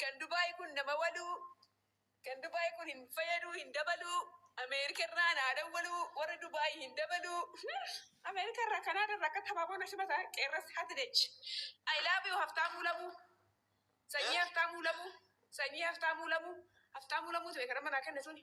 Kan Dubai kun nama waluu Kan Dubai kun hin fayyaduu hin dabaluu Ameerika irraa naa dawwaluu warri Dubai hin dabaluu Ameerika irraa Kanaada irraa akka tabaaboo na simata qeerras hatidech I love you haftaamuu lamuu sanyii haftaamuu lamuu sanyii haftaamuu lamuu haftaamuu lamuu tume kan amma naa kenne suni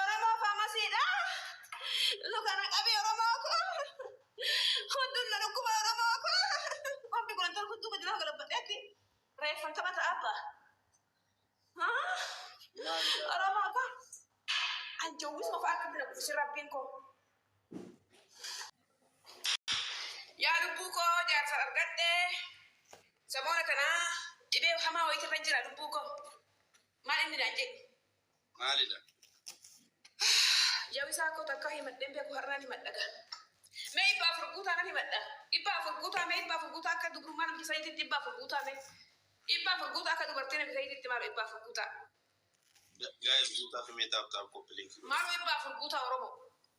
Oromoo faamasiidha. Luka na qabi Oromoo koo. Hundun na dhukkuba Oromoo koo. Qombi kun antara hunduu gadi lafa galabbadheetti. Reeffan taphata abba. Haa? Oromoo koo. An jawwisuma fa'aa akkatti na guddisi rabbiin koo. Yaa lubbuu koo jaarsa argadhe. Samoona kana dhibee hamaa wayiitirra jira lubbuu koo. Maal inni naan jedhu? maalidha? Jawisaa koo takkaa himadheen beeku har'aan himadha gaa. Mee dhibba afur guutaa nan himadha. Dhibba afur guutaa mee dhibba afur guutaa akka dubrummaa namicha saniititti dhibba afur guutaa mee. Dhibba afur guutaa akka dubartii namicha saniititti maaloo dhibba afur guutaa. Guys guutaa fi mee taap taap koppiliinki godha. Maaloo dhibba afur guutaa Oromoo.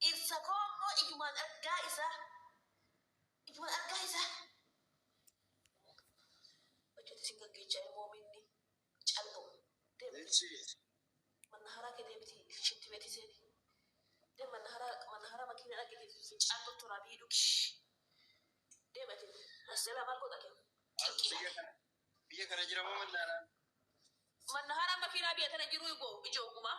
Dhirsa koo ammoo ijumaan argaa isaa ijumaan argaa isaa Hojjete sin gaggeecha ilmoo miinni callu deemti manna haraa kee deemti shitti beeti seeni deem manna haraa manna haraa makiina dhaggeeti fincaan kottu raabii dhugi deem ati asjalaa maal goota kee qinqii Biyya kana jira moo manna haraa? Manna haraa makiinaa biyya tana jiruu ibo ijoo gumaa.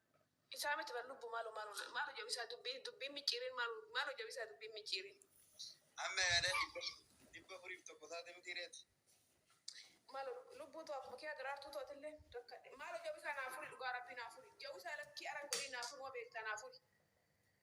Isaa miti bar lubbu malo malo malo jabisaa dubbii dubbiin micciiriin malo malo jabisaa dubbiin micciiriin. Amma yaada dhibba dhibba afuriif tokko taate mitii ree ati. Malo lubbuu too akkuma kiyaa daraartuu too atillee rakkadhe. Malo jabisaa naa furi dhugaa rabbii naa furi jawisaa lakkii aran godhii naa furuma beektaa naa furi.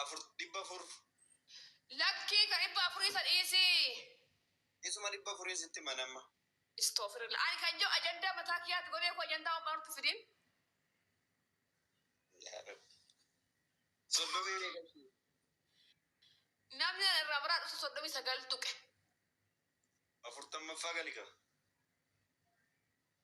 afur dhibba afur. Lakkii ka dhibba afurii sa dhiisii. Isuma dhibba afuriin sitti himan amma. Istofirila ani kan jo ajandaa mataa kiyaati godhee ko ajandaa homaa nutti fidin. Yaa rabbi. Soddomii meeqa ishii? Namni ana irraa maraa dhufu soddomii sagal tuqe. Afurtammaffaa gali kaa.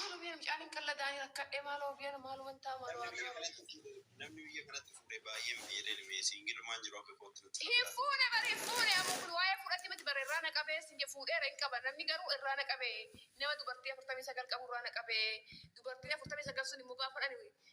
Maaloo biyya mucaan hin qalladaanii rakkadhee maaloo biyya maaloo wantaa maaloo Namni biyya kanatti fuudhe namni biyya kanatti fuudhe baay'een beela'e mee siingilummaan jiru akka kootti natti Hin fakkaata. fuune bar hin fuune amma kun waa'ee fuudhatti miti bar irraa na qabee sin je fuudheera hin qaba namni garuu irraa na qabe nama dubartii afurtamii sagal qabu irraa na qabe dubartiin afurtamii sagal sun immoo gaafa dhani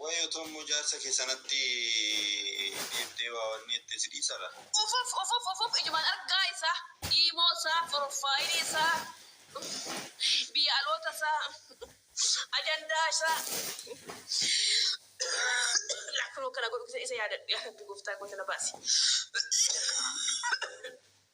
Wayoo tommo jaarsa kee sanatti deebitee waa wanni jettee si dhiisa laa. Ufuf ufuf ufuf ijumaan argaa isaa iimoo isaa forofaayilii isaa biyya aloota isaa ajandaa isaa laa kunoo kana godhu isa yaadadhu yaa rabbi goftaa koo isa na baasi.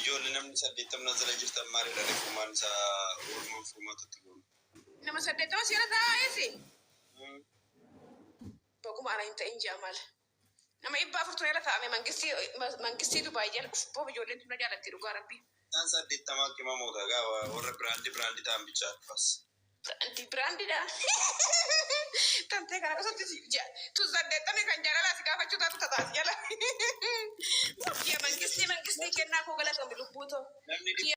Ijoollee namni saddeettam na jala jirtan maaliidha ree furmaan isa Oromoon furmaatutti goonu. Nama saddeettama siira taa'aa eessi? Baguma ana hin ta'in ji'a maal? Nama dhibba afurtu na irra taa'ame mangistii mangistii Dubaay jala uf boof ijoolleen tun na jaalatti dhugaa rabbii. Isaan saddeettamaa qimamoota gaa warra biraandi biraandi ta'an bichaa dhufas. Biraandi biraandidha. Tantee kana osatti si ja tu saddeettamni kan jaalalaa si gaafachuu taatu tataa si jala. Kiya mangistii mangistii kennaa koo galatoomi lubbuu too. Namni dhibba Kiya